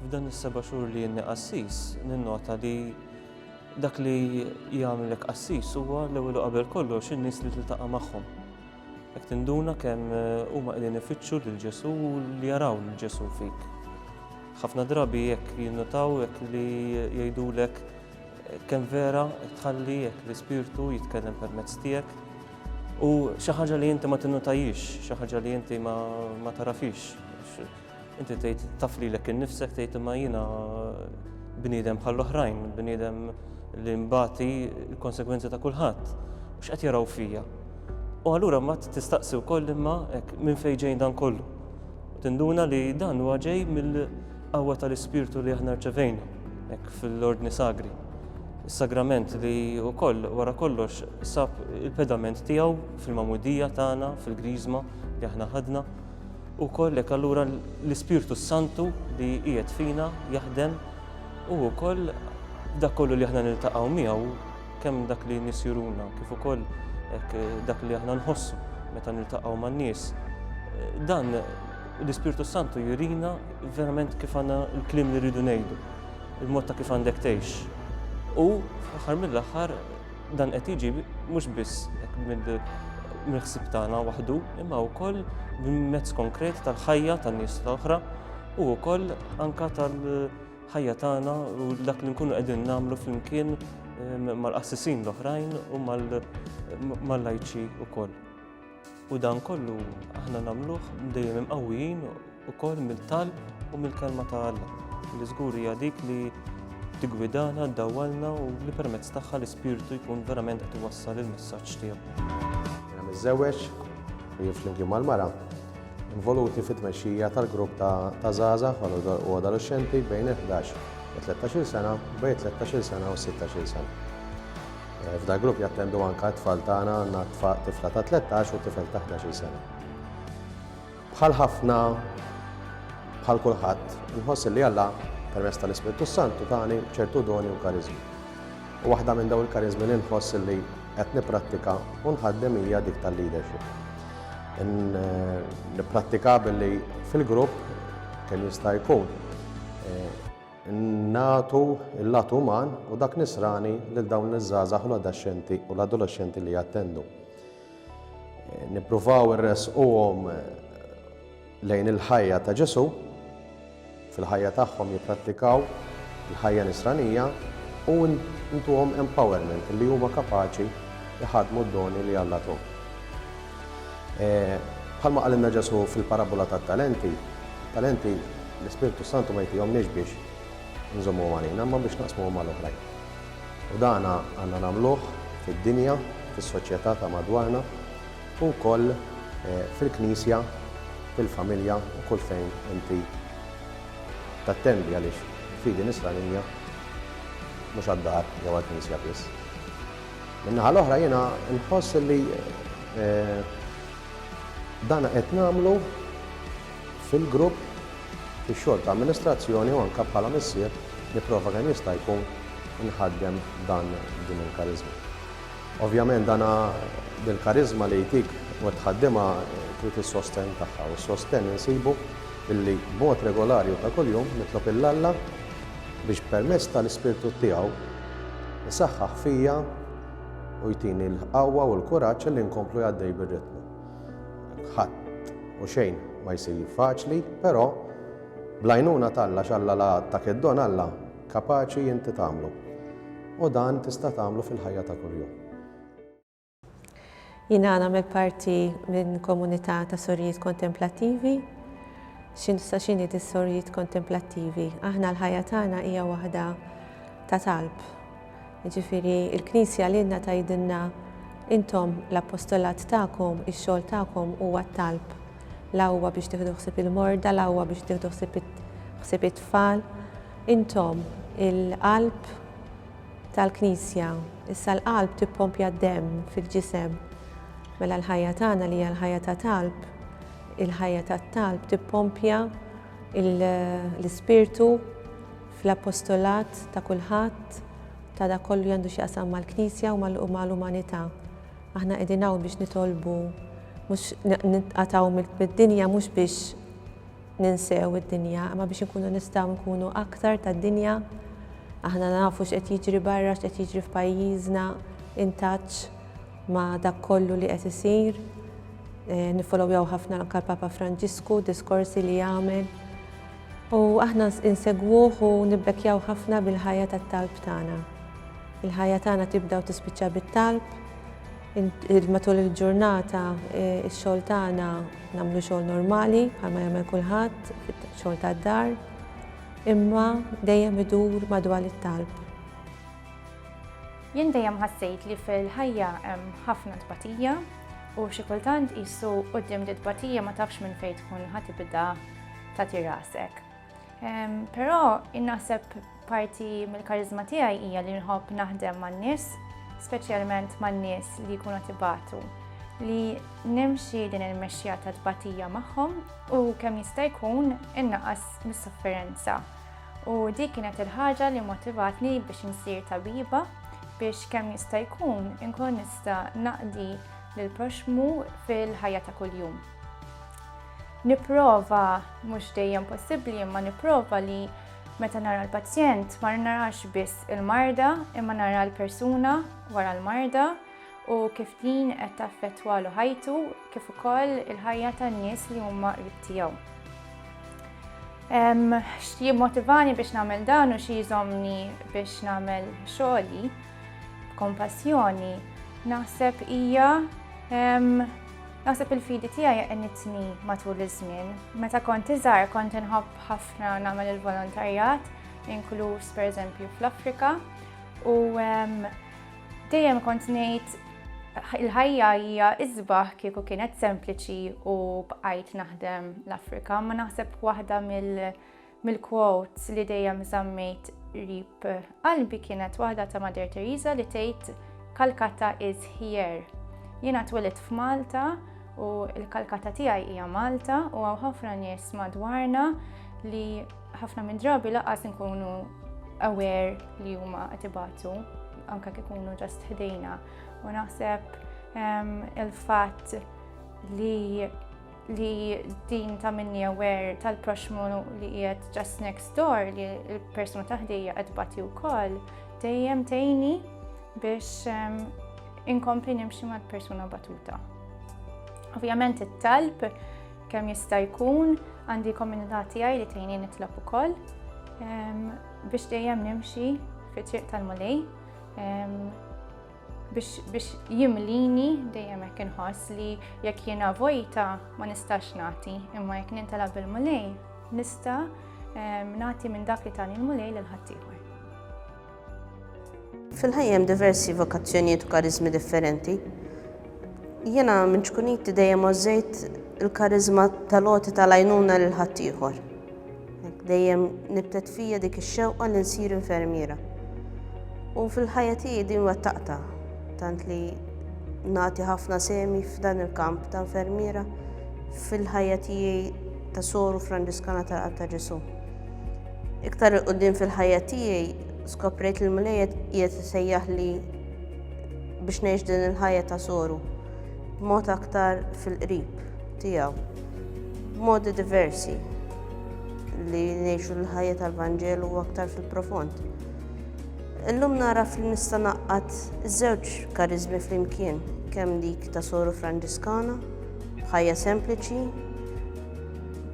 F'dan is-seba' xhur li jenni qassis, ninnota li dak li jagħmlek qassis huwa l-ewwel qabel kollox in-nies li tiltaqa' magħhom. Jekk tinduna kemm eh, huma qegħdin ifittxu lil Ġesu u li jaraw lil Ġesu fik. Ħafna drabi jekk jinnotaw jekk li jgħidulek eh, kemm vera tħalli jekk l-ispirtu jitkellem permezz tiegħek U xi ħaġa li inti ma tinnutajiex, xi ħaġa li inti ma tarafix. Inti tgħid taf lilek innifsek tgħid imma jiena bniedem bħall-oħrajn, bniedem li mbati l-konsegwenzi ta' kulħadd. X'qed jaraw fija? U allura ma tistaqsi wkoll imma hekk minn fejn ġejn dan kollu. Tinduna li dan huwa ġej mill Qawwa tal-Ispirtu li aħna rċevejna hekk fl-Ordni Sagri. Is-Sagrament li wkoll wara kollox sab il-pedament tiegħu fil-Magħmudija tagħna, fil-Griżma li aħna ħadna. Ukoll hekk allura l-Ispirtu Santu li qiegħed fina jaħdem u wkoll dak kollu li aħna niltaqgħu miegħu kemm dak li nies juruna kif ukoll dak li aħna nħossu meta niltaqgħu man-nies. Dan L-Ispirtu s-Santu jurina verament kif għandna l-kliem li rridu ngħidu, il-mod ta' kif għandek tgħix. U fl-aħħar mill-aħħar dan qed jiġi mhux biss mill-ħsieb tagħna waħdu, imma wkoll mezz konkret tal-ħajja tan-nies l-oħra u wkoll anka tal-ħajja tagħna u dak li nkunu qegħdin nagħmlu flimkien mal-qassisin l-oħrajn u mal-lajċi wkoll. U dan kollu aħna nagħmluh dejjem imqawwijin ukoll mill-talb u mill-kelma ta' Alla, li żgur hija dik li tiggwidana, ddawwalna u li permezz tagħha l-Ispirtu jkun verament qed iwassal il-messaġġ tiegħu. Jiena miżżewweġ u jien flimkien mal-mara involuti fit-tmexxija tal-grupp ta' żgħażagħ u adolexxenti bejn il-ħdax u 13-il sena, bejn 13-il sena u 16-il sena. F'dal-grupp jattendu anke t-tfal tagħna, għandna tifla ta' 13 u tifel ta' 11-il sena. Bħal ħafna, bħal kulħadd, inħoss li Alla, permezz tal-Ispirtu s-Santu, tani ċertu doni u kariżmi. U waħda minn dawn il-kariżmi li nħoss li qed nipprattika u nħaddem hija dik tal-leadership. Eh, nipprattika billi fil-grupp kemm jista' jkun eh, nagħtu l-lat uman u dak nisrani lil dawn iż-żgħażagħ u l-adaxxenti u l-adolexxenti li jattendu. Nippruvaw irressquhom lejn il-ħajja ta' Ġesù, fil-ħajja tagħhom jipprattikaw il-ħajja nisranija u ntuhom empowerment li huma kapaċi jħadmu d-doni li Alla tuhom. Bħalma qalilna Ġesù fil-parabbola tat-talenti, it-talenti l-Ispirtu s-Santu ma jtihomniex biex inżommuhom għalina, imma biex naqsmuhom mal-oħrajn. U dan għandna nagħmluh fid-dinja, fis-soċjetà ta' madwarna, u wkoll fil-Knisja, fil-familja u kull fejn inti tattendi għaliex il-fidi Nisranija mhux għad-dar jew għall-knisja biss. Min-naħa l-oħra jiena nħoss li dan qed nagħmlu fil-grupp, fix-xogħol ta' amministrazzjoni u anke bħala missier nipprova kemm jista' jkun inħaddem dan din il-kariżma. Ovvjament dan dil-kariżma li jtik u tħaddimha trid is-sostenn tagħha u s-sostenn insibu billi b'mod regolari u ta' kuljum nitlob 'l Alla Biex permezz tal-Ispirtu tiegħu jsaħħaħ fija u jtini l-qawwa u l-kuraġġ li nkomplu għaddej bir-ritmu. Ħadd u xejn ma jsir faċli, però bl-għajnuna t'Alla x'Alla la għadtak id-don Alla kapaċi inti tagħmlu. U dan tista' tagħmlu fil-ħajja ta' kuljum. Jiena nagħmel parti minn komunità ta' sorijiet kontemplattivi. X'in sa x'inhi di sorijiet kontemplattivi? Aħna l-ħajja tagħna hija waħda ta' talb. Jiġifieri l-Knisja lilna tgħidilna intom l-appostolat tagħkom, ix-xogħol tagħkom huwa t-talb. La huwa biex tieħdu ħsieb il-morda, la huwa biex tieħdu ħsieb ħsieb it-tfal. Intom il-qalb tal-Knisja. Issa l-qalb tippompja d-demm fil-ġisem. Mela l-ħajja tagħna li hija l-ħajja ta' talb, il-ħajja tat-talb tippompja l-ispirtu fl-apostolat ta' kulħadd, ta' dak kollu li għandu x'jaqsam mal-Knisja u mal-umanità. Aħna qegħdin hawn biex nitolbu mhux nitqatgħu mid-dinja mhux biex ninsew id-dinja imma biex inkunu nistgħu nkunu aktar tad-dinja. Aħna nafu x'qed jiġri barra, x'qed jiġri f'pajjiżna, intaċ ma' dak kollu li qed isir. Eh, Nifolowjaw ħafna anke l-Papa Franġisku, diskorsi li jagħmel. U aħna insegwuh u nibbekjaw ħafna bil-ħajja tat-talb tagħna. Il-ħajja tagħna tibda u tispiċċa bit-talb, Matul il-ġurnata x-xogħol tagħna nagħmlu xogħol normali bħalma jagħmel kulħadd, xogħol tad-dar, imma dejjem idur madwar it-talb. Jien dejjem ħassejt li fil-ħajja hemm ħafna tbatija u xi kultant qisu quddiem di tbatija ma tafx minn fejn tkun ħa tibda tagħti rasek. Però innaħseb parti mill-karizma tiegħi hija li nħobb naħdem man-nies, speċjalment man-nies li jkunu tibatu li nimxi din il-mexxija ta' tbatija magħhom u kemm jista' jkun innaqas mis-sofferenza. U dik kienet il-ħaġa li motivatni biex insir tabiba biex kemm jista' jkun inkun nista' naqdi lill proxmu fil-ħajja ta' kuljum. Nipprova, mhux dejjem possibbli, imma nipprova li meta nara l-pazjent ma narax biss il-marda imma nara l-persuna wara l-marda u kif din qed taffettwalu ħajtu kif ukoll il-ħajja tan-nies li huma qrib tiegħu. Xi jimmotivani biex nagħmel dan u xi jżomni biex nagħmel xogħli b'kompassjoni naħseb hija Naħseb il-fidi tiegħi għenitni matul iż-żmien. Meta kont iżgħar kont inħobb ħafna nagħmel il-volontarjat, inkluż pereżempju fl-Afrika, u dejjem kont ngħid il-ħajja hija iżbaħ kieku kienet sempliċi u bqajt naħdem l-Afrika, ma naħseb waħda mill- mill-quotes li dejjem żammejt qrib qalbi kienet waħda ta' Mother Teresa li tgħid Calcutta is here. Jiena twilidt f'Malta u l-Calcutta tiegħi hija Malta u hawn ħafna nies madwarna li ħafna minn drabi laqas nkunu aware li huma qed ibatu anke kif ikunu ġast ħdejna. U naħseb ehm, il-fatt li li din ta' minni aware tal-proxmu li qiegħed just next door li l-persuna taħdejja qed bati wkoll dejjem tgħini biex ehm, inkompli nimxi mal-persuna batuta. Ovvjament it-talb kemm jista' jkun għandi komunità tiegħi li tgħini nitlob ukoll ehm, biex dejjem nimxi fi triq tal-mulej ehm, biex jimlini dejjem hekk inħoss li jekk jiena vojta ma nistax nagħti, imma jekk nintela bil-mulej nista' ehm, nagħti minn dak li tani l-mulej lil ħaddieħor. Fil-ħajjem diversi vokazzjonijiet u karizmi differenti. Jiena minn ċkuniti dejjem ożżejt il-karizma tal-oti tal-għajnuna lil ħaddieħor. Dejjem nibtet fija dik ix-xewqa li nsir infermiera. U fil-ħajja tiegħi din wettaqta, tant li nagħti ħafna semi f'dan il-kamp ta' infermiera fil-ħajja tiegħi ta' soru Franġiskana tal-Qalb ta' Ġesu. Iktar il-qudiem fil-ħajja tiegħi skoprejt li l-Mulejjed qiegħed isejjaħ li biex ngħix din il-ħajja ta' soru b'mod aktar fil-qrib. tiegħu b'modi diversi li ngħixu l-ħajja tal-Vanġelu u aktar fil-profond. Illum naraf li nista' naqqat żewġ kariżmi flimkien, kemm dik ta' soru Franġiskana, bħajja sempliċi,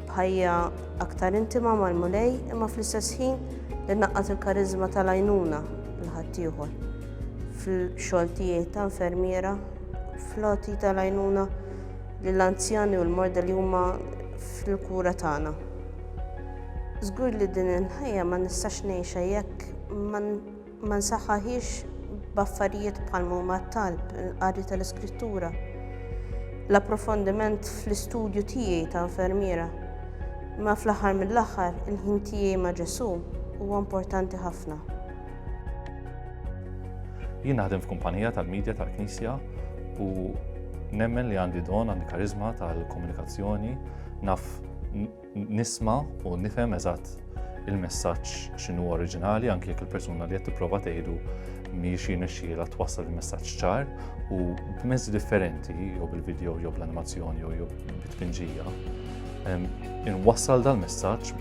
bħajja aktar intima mal-mulej, imma fl-istess ħin li naqqat il-kariżma tal-għajnuna l-ħaddieħor fil-xogħol tiegħi ta' infermiera, floti tal-għajnuna lill-anzjani u l-morda li huma fil-kura tagħna. Żgur li din il-ħajja ma nistax ngħixha jekk ma nsaħħaħiex b'affarijiet bħal huma t-talb, il-qari tal-iskrittura, l-approfondiment fl-istudju tiegħi ta' infermiera. Imma fl-aħħar mill-aħħar, il-ħin tiegħi ma' Ġesù huwa importanti ħafna. Jien naħdem f'kumpanija tal-medja tal-Knisja u nemmen li għandi don għandi karizma tal-komunikazzjoni naf nisma u nifhem eżatt il-messaġġ x'inhu oriġinali anke jekk il-persuna li qed tipprova tgħidu mhijiex jinexxiela twassal il-messaġġ ċar u b'mezzi differenti jew bil-video jew bl-animazzjoni jew bit-tpinġija. Inwassal dal-messaġġ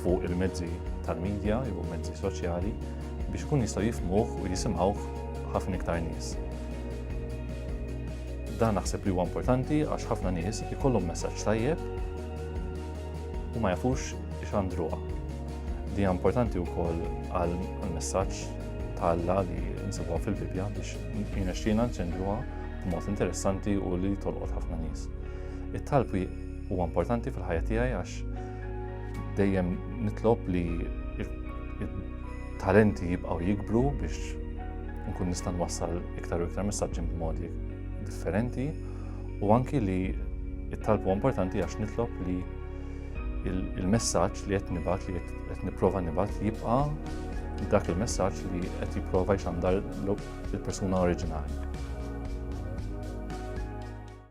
fuq il-mezzi tal-medja jew mezzi soċjali biex ikun jistgħu jifmuh u jisimgħuh ħafna iktar nies. Dan naħseb li huwa importanti għax ħafna nies ikollhom messaġġ tajjeb u ma jafux ixandruha. Di importanti wkoll għal messaġġ ta' Alla li nsibuha fil-Bibja biex jinexxina nċendruha b'mod interessanti u li tolqot ħafna nies. It-talb huwa importanti fil-ħajja tiegħi għax Dejjem nitlob li talenti jibqgħu jikbru biex nkun nista' nwassal iktar u iktar messaġġi b'modi differenti u anki li it-talbu importanti għax nitlob li il-messaġġ li qed nibgħat li qed nipprova nibgħat jibqa' dak il-messaġġ li qed jipprova jxandar il-persuna oriġinali.